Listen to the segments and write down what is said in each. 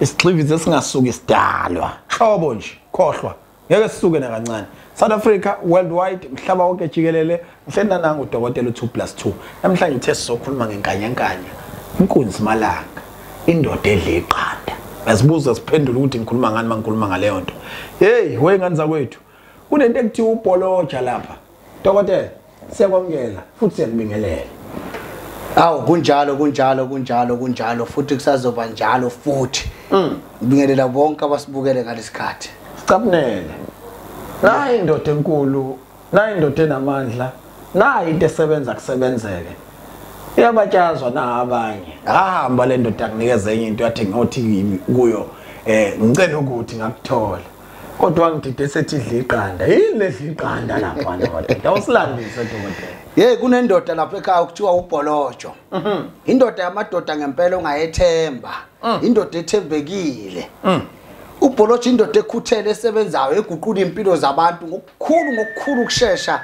isigxivizi esingasuki sidalwa hlobo nje khohlwa ngeke sisuke nakancane south africa worldwide mhlaba wonke jikelele mfenananga udokotela u-2 plus 2 namhlanje uthe sizokhuluma ngenkanyankanya inkunzi malanga indoda edle iqanda yazibuza siphendula ukuthi ngikhuluma ngani uma ngikhuluma ngaleyo nto heyi weyngane zakwethu kunento ekuthiwa ubholoja lapha dokotela siyakwamukela futhi siyakubingelela awu kunjalo kunjalo kunjalo kunjalo futhi kusazoba njalo futhi mm. ngibingelela bonke abasibukele ngalesikhathi sicabunele nayi indoda enkulu nayi indoda enamandla nayi into esebenza kusebenzeke iyabatyazwa na abanye ahamba le ndoda akunikeza enye into yathi ngothi kuyo um ngicela ukuthi ngakuthola kodwa wangidide sethi idla iqanda yini ledla iqanda lapho ndoda usilandise dokotela yeyi kunendoda lapho ekhaya okuthiwa ubholojo mhm. indoda yamadoda ngempela ongayethemba mm. indoda ethembekile mm. ubholojo indoda ekhuthele esebenzayo eguqula iy'mpilo zabantu ngokukhulu ngokukhulu ukushesha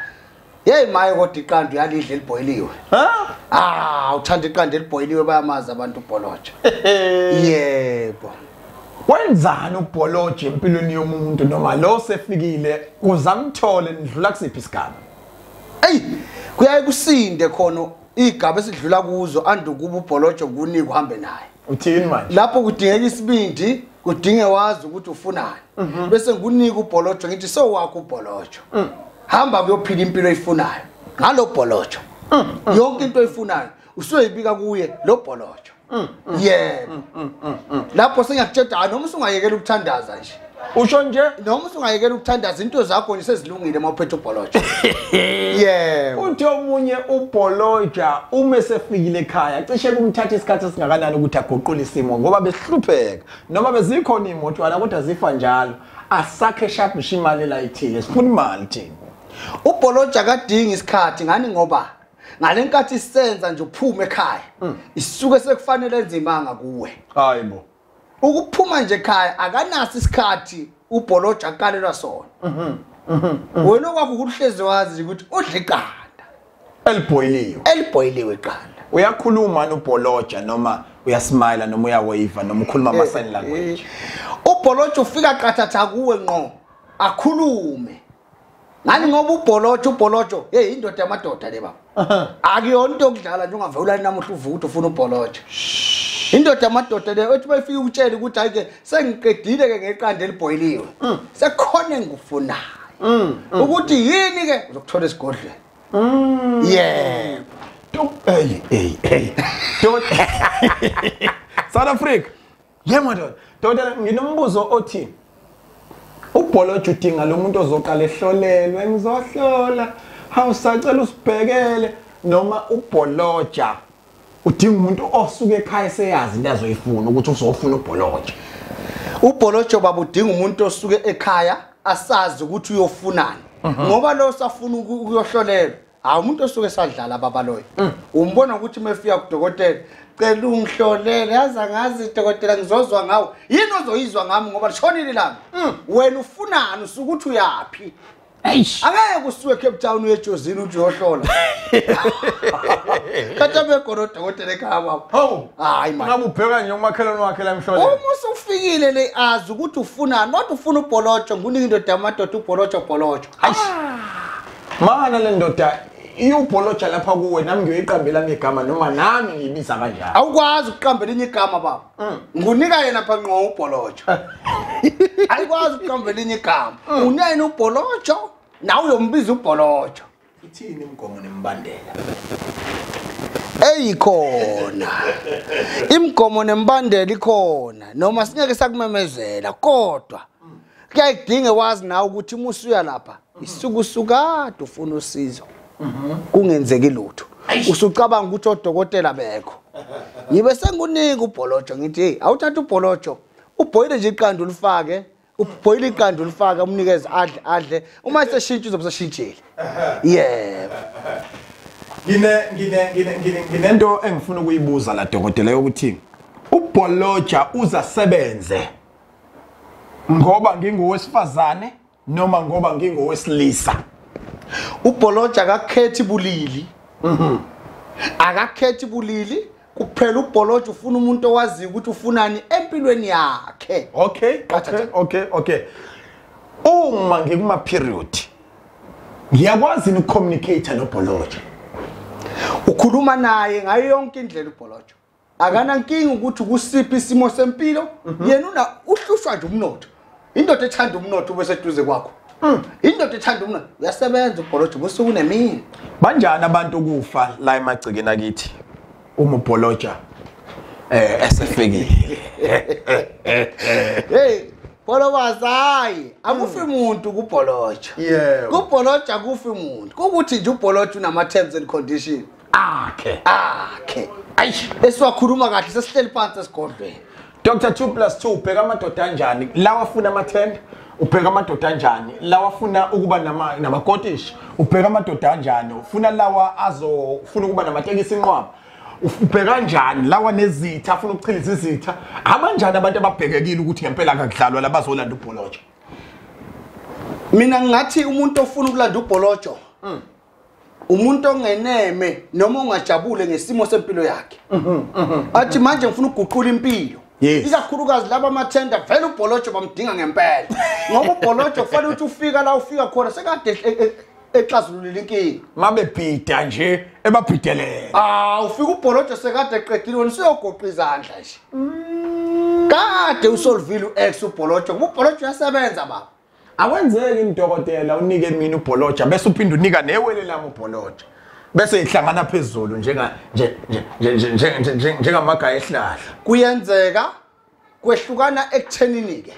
Hey maye kodwa iqanda uyalidla elibhoyiliwe. Ha? Ah, uthanda iqanda elibhoyiliwe bayamazi abantu ubholotsha. Yebo. Wenzani ubholotsha empilweni yomuntu noma lo sefikile uzamthole nidlula kusiphi isigaba? Ey, kuyaye kusinde khona igaba esidlula kuzo andukuba ubholotsha kuni kuhambe naye. uthini manje lapho kudingeka isibindi kudinge wazi ukuthi ufunani mhm. bese ngikunika ubholojo ngithi sowakho ubholojo mm. hamba kuyophila impilo oyifunayo ngalo bholojo mm, mm. yonke into oyifunayo usuyoyibika kuye lo bholojo yebo lapho sengiyakutsheda noma usungayekela ukuthandaza nje usho nje noma usungayekela ukuthandaza into zakho nje sezilungile uma uphethe ubholoja yebo uthe omunye ubholoja uma esefikile ekhaya cishe kumthatha isikhathi esingakanani ukuthi aguqule isimo ngoba besihlupheka noma bezikhona iy'motwana kodwa zifa njalo asakhe shabhisha imali elayithile sifuna imali thina ubholoja kadingi isikhathi ngani ngoba ngale nkathi isenza nje uphume ekhaya mm. isuke sekufanele enzimanga kuwe hayi bo ukuphuma nje ekhaya akanaso isikhathi ubholoja akalelwa sona mhm, mhm, mhm. wena okwakho ukuhlezi wazi ukuthi udla iqanda elibhoyiliwe elibhoyiliwe iqanda uyakhuluma nobholoja noma uyasmile noma uyawayiva noma ukhuluma ama sign eh, language eh. ubholoja ufika qathatha kuwe nqo akhulume ngani ngoba ubholotsho ubholotsho hey indoda yamadoda le baba akuyona into yokudlala nje ungavela ulani namuhla uvukuthi ufuna ubholotsho indoda yamadoda le othi bayifike ukutshela ukuthi hayi ke sengiqedile ke ngeqanda elibhoyiliwe mm. sekukhona engikufunayo mm, mm. ukuthi yini ke uzokuthola esigodlweni yeah hey hey hey South Africa Yebo ndoda, ndoda nginombuzo othi ubholojo udinga lo muntu ozoqala ehlolelwe ngizohlola hawu sacela usibhekele noma ubholoja udinga umuntu osuke ekhaya seyazi into azoyifuna ukuthi uzofuna ubholoja ubholojo baba udinga umuntu osuke ekhaya asazi ukuthi uyofunani mhm. ngoba lo safuna ukuyohlolelwa hawu umuntu osuke esadlala babaloyo mm. umbona ukuthi uma efika kudokotela cela ungihlolele yazi angazi dokotela ngizozwa ngawo yini ozoyizwa ngami ngoba lishonile lami mm. wena ufunani usuke ukuthi uyaphi angeke kusuke cape town uyejozini ukuthi uyohlola kati abegona odokotela ekhaya kwabo hawu hayi mangabe ubheka nje umakhelwane wakhe la emhloleni uma usufikile le azi ukuthi ufunani kodwa ufuna ubholotsho nguningi indoda yamadoda ubholotsho bholotsho hayi ah. Mana le ndoda iyubholoja lapha kuwe nami ngiyoyiqambela ngegama noma nami ngiyibiza kanjani awukwazi ukuqambela inye igama baba mm. ngunika yena pha nqo ubholoja ayikwazi ukuqambela inye igama mm. unene ubholojo nawe uyombiza ubholojo ithini imigomo nembandela eyikhona imigomo nembandela ikhona noma singeke sakumemezela kodwa kuyayidinge wazi nawe ukuthi uma usuya lapha isuke usukade ufuna usizo mhm. kungenzeki lutho usucabanga ukuthi odokotela bekho ngibe sengikunike ubholojo ngithi heyi awuthatha ubholojo ubhoyile nje iqanda ulifake ubhoyile iqanda ulifake umnikeze adle adle uma seshintsha uzobe seshintshile yebo nginento engifuna ukuyibuza la dokotela yokuthi ubholoja uzasebenze ngoba ngingowesifazane noma ngoba ngingowesilisa ubholoja akakhethi bulili mhm. akakhethi bulili kuphela ubholoja ufuna umuntu owaziyo ukuthi ufunani empilweni yakhe okay okay okay okay uma ngikuma period ngiyakwazi ukucommunicate nobholoja ukhuluma naye ngayo yonke indlela ubholoja akanankinga ukuthi kusiphi isimo sempilo mhm. yena una uhlushwa nje umnotho indoda ethanda umnotho ube seduze kwakho mm. indoda ethanda umnotho uyasebenza ubholoje ubusuku nemini banjani abantu ukufa la emagcikeni akithi uma ubholoja eh esefikile hey Bolo wazayi akufi hmm. umuntu kubholoja. Yebo. Kubholoja kufi umuntu. Ukuthi nje ubholoja unama terms and conditions. akhe akhe ayish esiwakhuluma kahle sesihleli phansi esigodlweni Dr 2 plus 2 ubheka amadoda anjani lawa funa amathenda ubheka amadoda anjani lawa funa ukuba nama namakotish ubheka amadoda anjani ufuna lawa azo funa ukuba namatekisi inqwaba ubheka njani lawa nezitha afuna ukuchiliza izitha abanjani abantu ababhekekile ukuthi ngempela akakudlalwa labazolanda ubholotsho mina ngathi umuntu ofuna ukulanda ubholotsho mm. umuntu ongeneme noma ongajabule ngesimo sempilo yakhe mhm, mhm. athi manje ngifuna ukuguqula impilo ikakhulukazi laba amathenda vele ubholojo bamdinga ngempela ngoba ubholojo kufanele ukuthi ufika la ufika khona sekade e, e, exazululile inkinga mabebhida nje ebabhidelele ah ufika ubholojo sekade eqedile wena usuyogoqa izandla nje mm. kade usolvile u-x ubholojo ngoba ubholojo uyasebenza baba Akwenzeki mdokotela unike mina ubholoja bese uphinde unika newele lami ubholoja. Bese ihlangana phezulu njenga nje nje njengamagaya ehlahla. Kuyenzeka kwehlukana ekuthenini ke.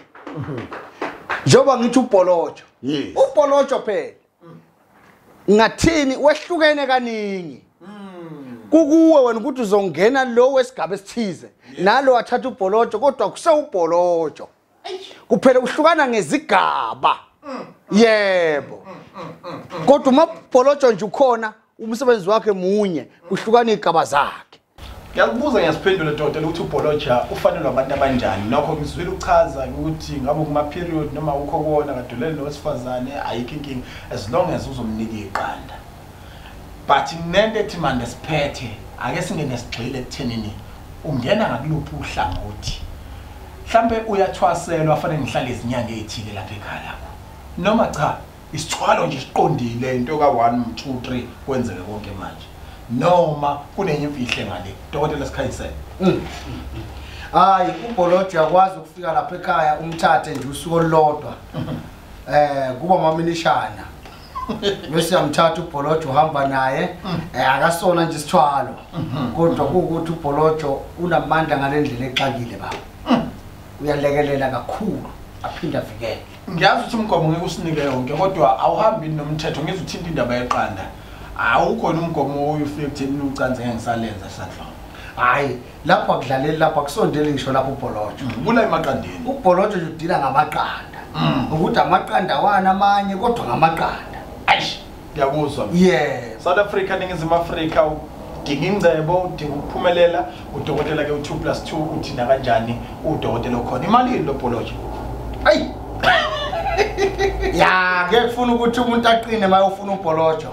Njoba ngithi ubholoja. Ubholoja phela. Ngathini wehlukene kaningi. kukuwe wena ukuthi uzongena lo wesigaba esithize nalo wathatha ubholojo kodwa kusewubholojo kuphela uhlukana ngezigaba yebo kodwa umabholotsho nje ukhona umsebenzi wakhe munye kuhlukana igaba zakhe ngiyakubuza ngiyasiphendula doda lokuthi ubholoja ufanelwe abantu abanjani nokho ngizwile uchaza ukuthi ngabe kuma-period noma ukho kona kadulele nowesifazane ayikho inkinga as long as uzomnika iqanda but nento ethi manje siphethe ake singene sigxile ekuthenini ungena ngakuluphi uhlangothi mhlambe uyathwaselwa afanele ngihlale izinyanga ezithile lapha ekhaya lakho noma cha isithwalo nje siqondile into ka 1 2 3 kwenzeke konke manje noma kunenye imfihle ngale dokotela sikhayisele mm. hayi ubholojo yakwazi ukufika lapha ekhaya umthathe nje usuku olulodwa eh kuba maminishana bese yamthatha ubholojo uhamba naye mm. eh, akasona nje isithwalo mm-hmm. kodwa kuwukuthi ubholojo unamandla ngale ndlela exakile baba mm. uyalekelela kakhulu aphinde avikele ngiyazi ukuthi umgomo ngeke usinike yonke kodwa awuhambi nomthetho ngizwe uthinta indaba yeqanda awukhona umgomo oyufike ekutheni ucanze ngeke ngisalenza sanhloko hhayi lapho akudlaleli lapho akusondeli ngisho lapho ubholotsho mm, bula emaqandeni ubholotsho nje udila ngamaqanda mm. ukuthi amaqanda wani amanye kodwa ngamaqanda aish ngiyakuzwa yes south africa ningizimu afrika udinga ingcebo udinga ukuphumelela udokotela ke u2 plus 2 uthi nakanjani udokotela okhona imali yini lo bholotsho ayi ya ngeke kufuna ukuthi umuntu aqine mayofuna ubholotsho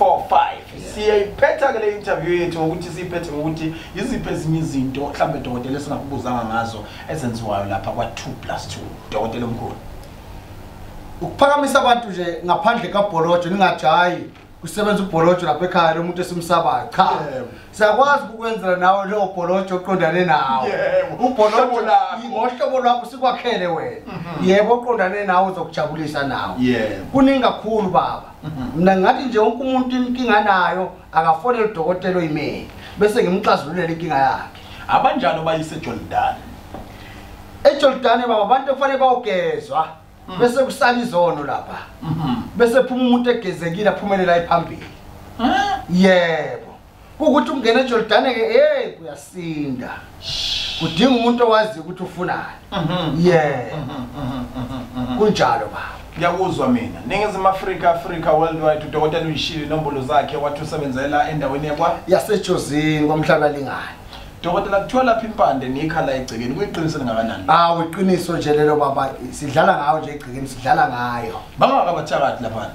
4 5 siyayiphetha ke le interview yethu ngokuthi siyiphethe ngokuthi yiziphi ezinye izinto mhlawumbe dokotela esingakubuzanga ngazo ezenziwayo lapha kwa 2 plus 2 dokotela omkhulu ukuphakamisa abantu nje ngaphandle kabholojo ningajayi kusebenza ubholojo lapha ekhaya lo muntu esimsabayo cha siyakwazi ukukwenzela nawe leyo bholojo oqondane nawo ubholojo ngohlobo lwakho sikwakhele wena mhm. yebo oqondane nawe uzokujabulisa nawo kuningi kakhulu baba mna ngathi nje wonke umuntu inkinga nayo akafonele udokotela oyimele bese ngimxazululela inkinga yakhe abanjalo bayise ejordani ejordani baba abantu ekufanele bawugezwa mm. bese kusala izono lapha mm-hmm. bese phuma umuntu egezekile aphumelela ephambili yebo kukuthi ungena ejordane ke hey kuyasinda kudinga umuntu owazi ukuthi ufunani mhm. ye mhm, mhm, kunjalo ba ngiyakuzwa mina ningizimu afrika afrika worldwide udokotela uyishile inombolo zakhe wathi usebenzela endaweni yakwa yasejozini kwamhlaba lingani dokotela kuthiwa lapha impande nikha la egcekeni kuyiqiniso lingakanani awu ah, iqiniso nje lelo baba sidlala ngayo nje egcekeni sidlala ngayo bangakabathakathi laphana